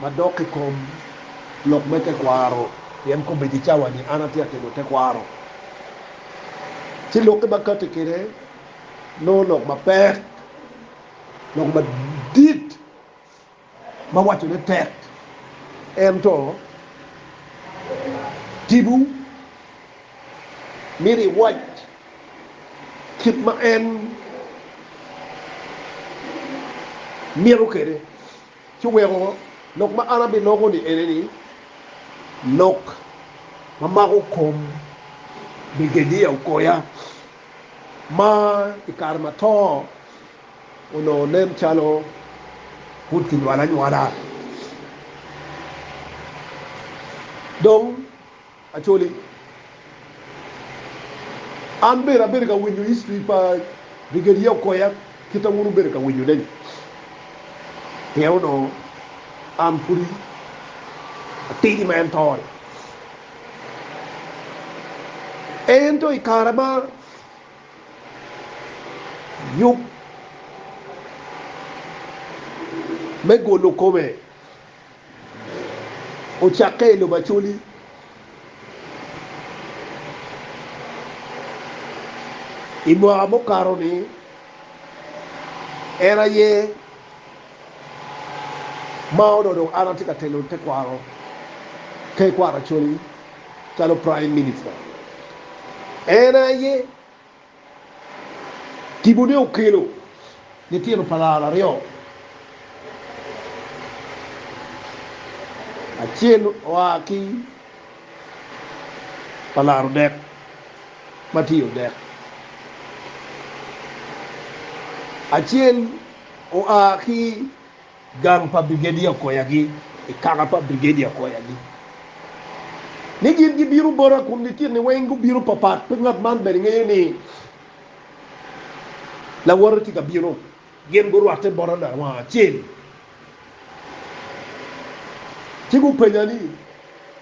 Madok i kom lok me tekwaro, pien kobedi i cawa-ni an atye ka timo tekwaro, ci lokke ma akatti kwede nongo lok mapek, lok madit ma wacone tek. Ento, tipo myero iwac kit ma en mito kwede. Ci weko, lok ma an abiloko-ni ene ni, lok ma mako kom Brigedia Okoya ma i kare ma to onongo nen calo pud kinywale anywala dong. Acholi, An bene abedo ka winyo history pa Brigadier Okoya kit ma wun wubedo ka winyone-ni, pien onongo an pudi atidi ma en to-ni. Ento i kare ma yub me golo kome, ocakke i lobo Acholi. I mwaka mukato-ni, en aye ma onongo dong an atye ka telo tekwaro Acholi calo Prime Minista. En aye Timone okelo litino pa laro aryo, acel oa ki pa laro dek ma tye odek, acel oa ki gang pa brigedia okoyagi i kaka pa brigedia okoyagi ni gin gibino bota kun litini weng gubino papat pe ngat man bene ngeyo ni lawote tye ka bino gin gurwatte bota nanga wang acel ci gupenya ni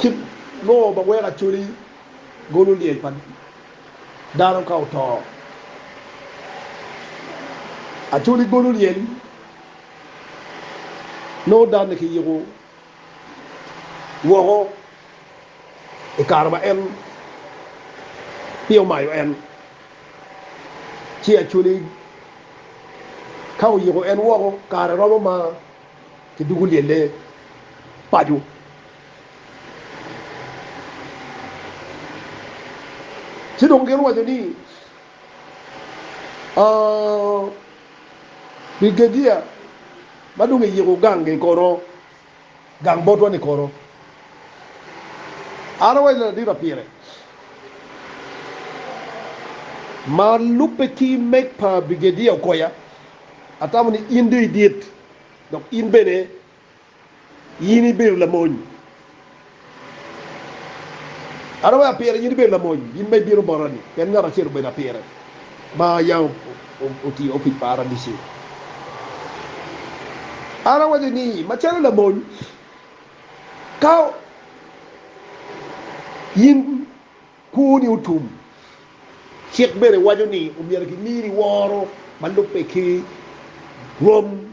Kit ngo ma weko Acholi golo lyel pa dano ka oto? Acholi golo lyel nongo dan-ni kiyiko woko i kare ma en peya omayo en, ci Acholi Ka oyiko en woko, kare romo ma kidwogo lyelle paco. Ci dong gin owaco ni, Aa, Brigedia, ma dong iyiko gangi kono? gang botwa ni koro an awaco ni ladira pire ma lubbe ki meg pa Brigedia Okoya atamo ni in dong idit dok in bene in ibedo lamony. An aweyo apire in ibed lamony, in ma ibino bota-ni, pien ngat acel obedo apire ma yam otiyo okic para dici. An awaco ni, macalo lamony, ka in kwoni otum, cik bene waco ni omyero kimini woro ma lubbe ki rwom.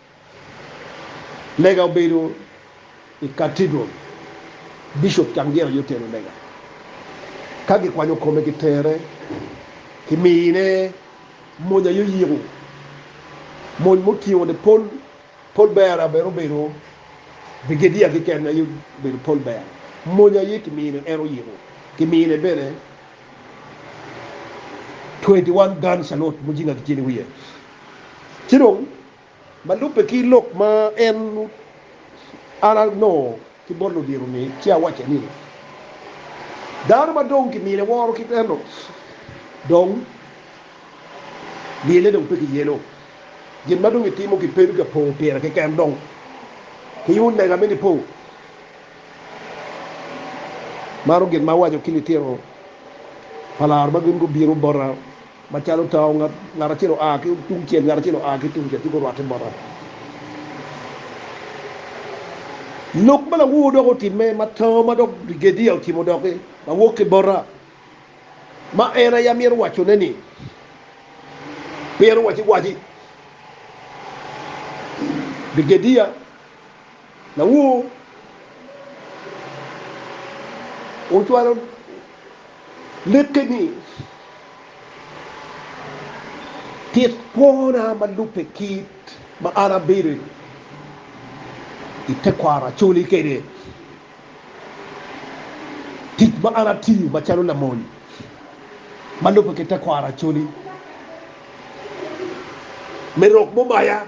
Lega obedo i Cathedral, Bishop cang dyere aye otero lega. Ka gikwanyo kome kitere kimine mony aye oyiko. Mony mutingo ni pol pol beara bene obedo Brigedia keken aye obedo pol beara. Mony aye kimine en oyiko. Kimine bene twenty one gun salute mujinga kicel i wiye. Ci dong, ma lubbe ki lok ma en an anongo ki bot ludito-ni, ci awacce ni, Dano ma dong kimine woro kit eno, dong lyelle dong pe kiyelo. Gin ma dong itimo kipedo ka po pire keken dong, ki yung lega me nipo. Mano gin ma awaco ki litino pa laro ma gin gubino bota. Macalo tawo, ngat acel oa ki tung cel, ngat acel oa ki tung ca, ci gurwatte bota. Lok ma lawor dok otimme, ma tawo ma dok Brigedia otimo doki, lawokke bota, ma en aye amyero wacone ni, pien owaci waci, Brigedia, Lawur ocwalo leke ni, Tit kwona ma lubbe kit ma an abedo i tekwaro acoli kwede, tic ma an atiyo macalo lamony ma lubbe ki tekwaro acoli me rok mumaya.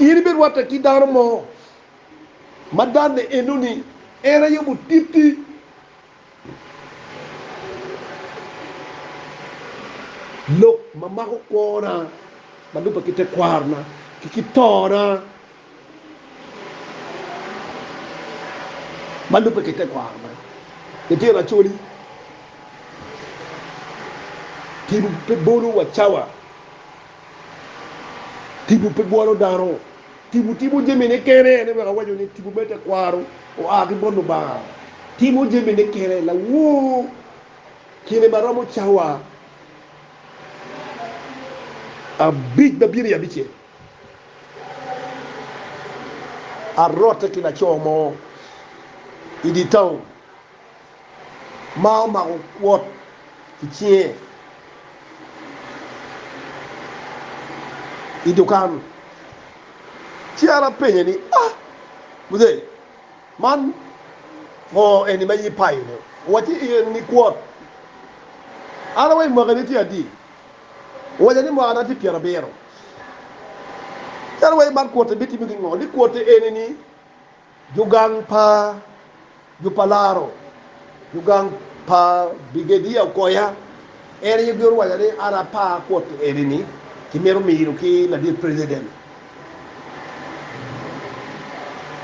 In ibirwatte ki dano mo ma danne enoni, en aye obititti. Lok ma mako kwona ma lubba ki tekwarona ki ki tona ma lubbe ki tekwarona. Litino Acholi, Timu pe bolowa cawa. Tipo pe bwolo dano. Tipo timo jamine kene. Ene wek awaco ni tipo me tekwaro oa ki bot Lubanga. Timo jamine kene lawor kine ma romo cawa abic ma bino i abicel. Arotte ki laco mo i dye taun. ma omako kwot i cinge i dukan ci an apenye ni budhe man ngo eni ma in ipayo ne owacci en ni kwot an awaci mwaka ne tye adi owaco ni mwaka na tye pyera biro ci an awaci man kwote bitimi ki ngo ni kwote eni ni Jugang pa jo pa laro. Jugang pa Brigedia Okoya en aye gin owaco ni an apar kwot eni ni ki mito mino ki ladit president.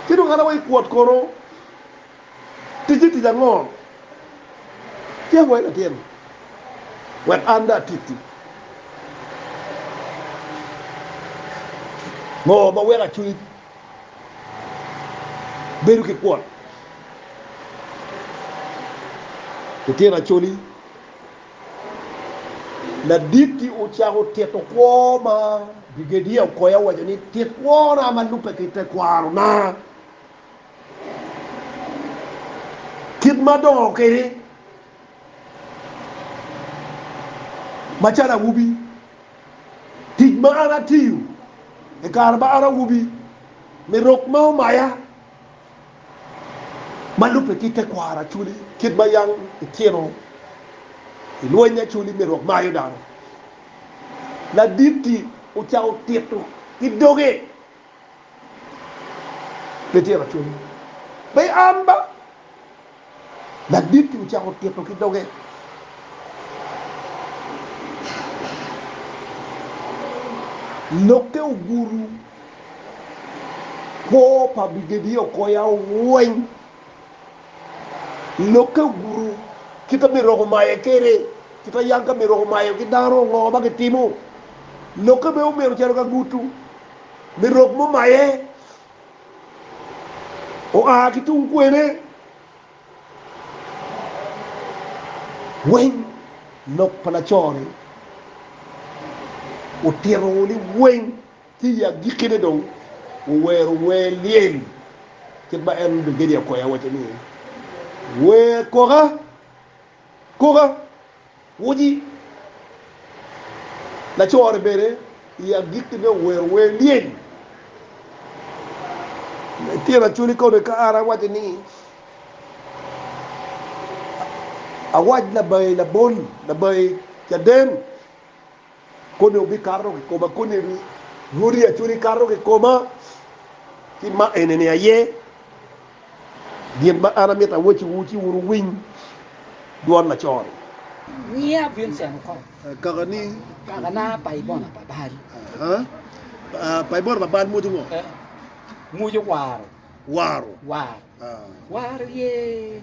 Ci dong kata wa i kwot kono tije tic ango ci awaco latin wek an dong atiti ngo ma weko acwiny. bedo ki kwot litino acoli laditti ocako tito kwo ma Brigedia Okoya owaco ni tit kwona ma lubbe ki tekwarona kit ma adongo kwede macalo awobi. Tic ma an atiyo i kare ma an awobi me rok ma omaya ma lubbe ki tekwaro acwli kit ma yam itino i lweny acwli me rok mayo dano. Ladit-ti ocako tito ki doge. Pe itito acwiny. Pe ian ba. Ladit-ti ocako tito ki doge. Lokke ogudo kwo pa Brigadier Okoya weng. Lokke ogudo kit ma myero lok omaye kwede, kit ma Yanga myero lok omaye ki dano, ngo ma kitimo. Lokke bene omyero ocito ka gudo. me rok mumaye oa ki tung kwene. Weng lok pa laco-ni otito ni weng tye i agikkine dong owero wer lyel kit ma en Brigadier Okoya waco ni, Wer koka. Koka wuci laco-ni bene i agikki me wero wer lyel me tyen acwali koni ka an awaco ni, Awac labangi labol, labangi caden. Koni obikato ki koma, koni rwodi acodi kato ki koma, ki ma enini aye gin ma an amito awacciwu, ci wun wuwiny dwon laco-ni. Nyiya Vincent Okot. Kakani? Kakana Paibona Babal. Aa, Paibona Babal moco ngo? Moco waro. Waro? Waro. Waro ye.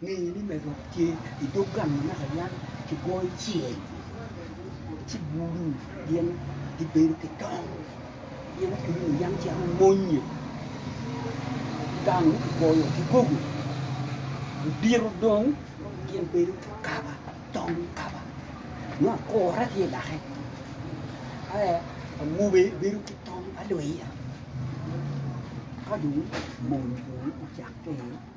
Ngeye ni me dok tye i dog gang ma naka yam kigoyo cel ci bulu gin gibedo ki tong pien i kine-ni yam cito monnye gang ma kigoyo ki gogo odito dong gin bedo ki kaba tong kaba nongo akora tye i lake aye awobe bedo ki tong alwiya ka dong mony dong ocak ki